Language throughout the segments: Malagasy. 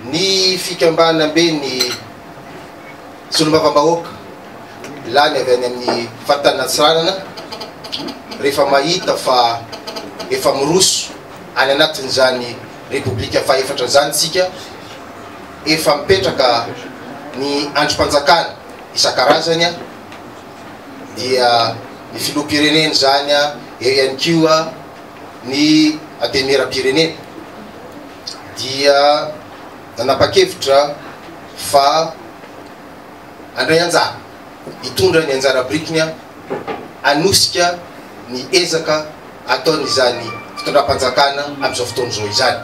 Ny fikambanamben'ny solombavambahoaka lany avy any amin'ny faritany Antsiranana rehefa mahita fa efa miroso any anatin'izany Repoblika fahefatra izany isika, efa mipetraka ny andrim-panjakana isan-karazany dia ny filoham-pirenena izany eo ihany koa ny Antenimieram-pirenena dia nanapa-kevitra fa handray anjara, hitondra ny anjara birikiny hanosika ny ezaka ataon'izany fitondram-panjakana amin'izao fotoana izao izany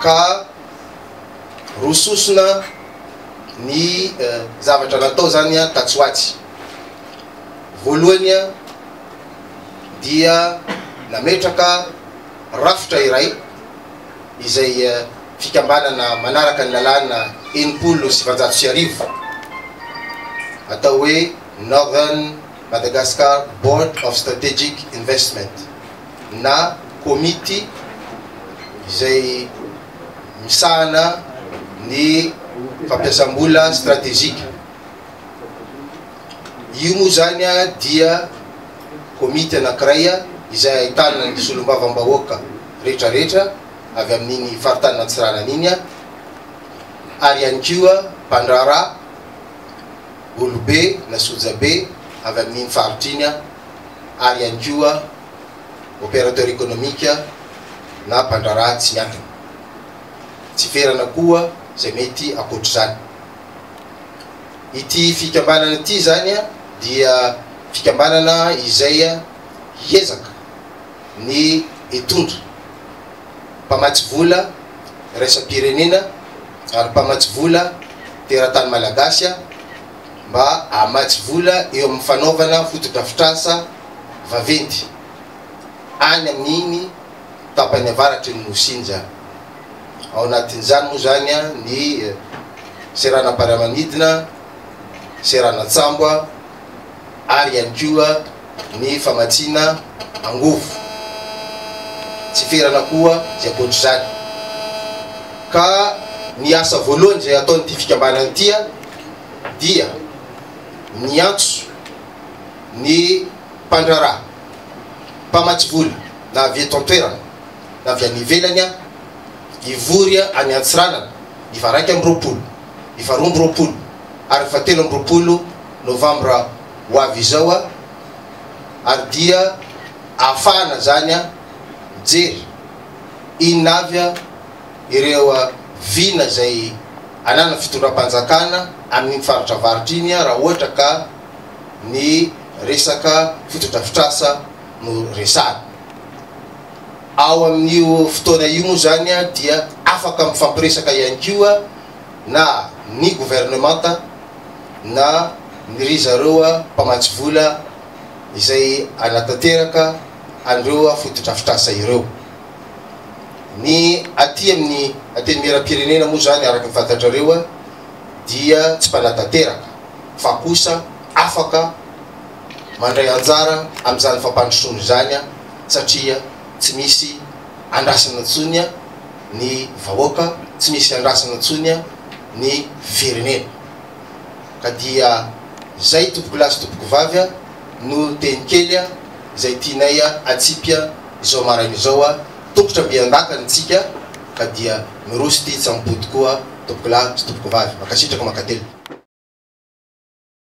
ka roa sosona ny zavatra natao izany tatsy ho atsy. Voalohany, dia nametraka rafitra iray izay fikambanana manaraka ny lalàna enimpolo sy valonjato sy arivo atao hoe Northern Madagascar Board of Strategic Investment na komity izay misahana ny fampiasam-bola stratejika. Io moa izany dia komity anankiray izay ahitana ny solombavambahoaka rehetrarehetra avy amin'iny faritany Antsiranana iny ary ihany koa mpandraharaha olobe na sojabe avy amin'iny faritra iny ary ihany koa opérateur économique na mpandraharaha tsy miankina. Tsy ferana koa izay mety ankoatr'izany. Ity fikambanana ity izany dia fikambanana izay hiezaka ny hitondra mpamatsy vola iraisam-pirenena ary mpamatsy vola teratany malagasy mba hamatsy vola eo amin'ny fanaovana fotodrafitrasa vaventy any amin'iny tapany avaratry ny Nosy iny izany. Ao anatin'izany moa izany ny seranam-piaramanidina, seranan-tsambo ary ihany koa ny famatsiana angovo. Tsy ferana koa izay ankoatra izany. Ka ny asa voalohany izay ataon'ity fikambanana ity dia niantso ny mpandraharaha, mpamatsy vola, na avy eto an-toerana na avy any ivelany aho, hivory any Antsiranana ny faha-iraika amby roapolo, ny faharoa amby roapolo ary ny fahatelo amby roapolo novambra ho avy izao ary dia ahafahana izany mijery inona avy ireo vina izay ananan'ny fitondram-panjakana amin'iny faritra avaritra iny raha ohatra ka ny resaka fotodrafitrasa no resahana. Ao amin'io fotoana io moa izany dia afaka mifampiresaka ihany koa na ny governemanta na ny ry zareo mpamatsy vola izay hanatanteraka an'ireo fotodrafitrasa ireo. Ny aty amin'ny Antenimierampirenena moa izany araka ny fantatrareo dia tsy mpanatanteraka fa kosa afaka mandray anjara amin'izany fampandrosoana izany satria tsy misy andrasana intsony ny vahoaka, tsy misy andrasana intsony ny firenena. Ka dia izay tompokolahy sy tompokovavy a! no teny kely izay tianay atsipy izao maraina izao a! Tongotra mby an-dakana isika ka dia miroso ity tsambo-boto koa tompokolahy sy tompokovavy. Mankasitraka mankatelina.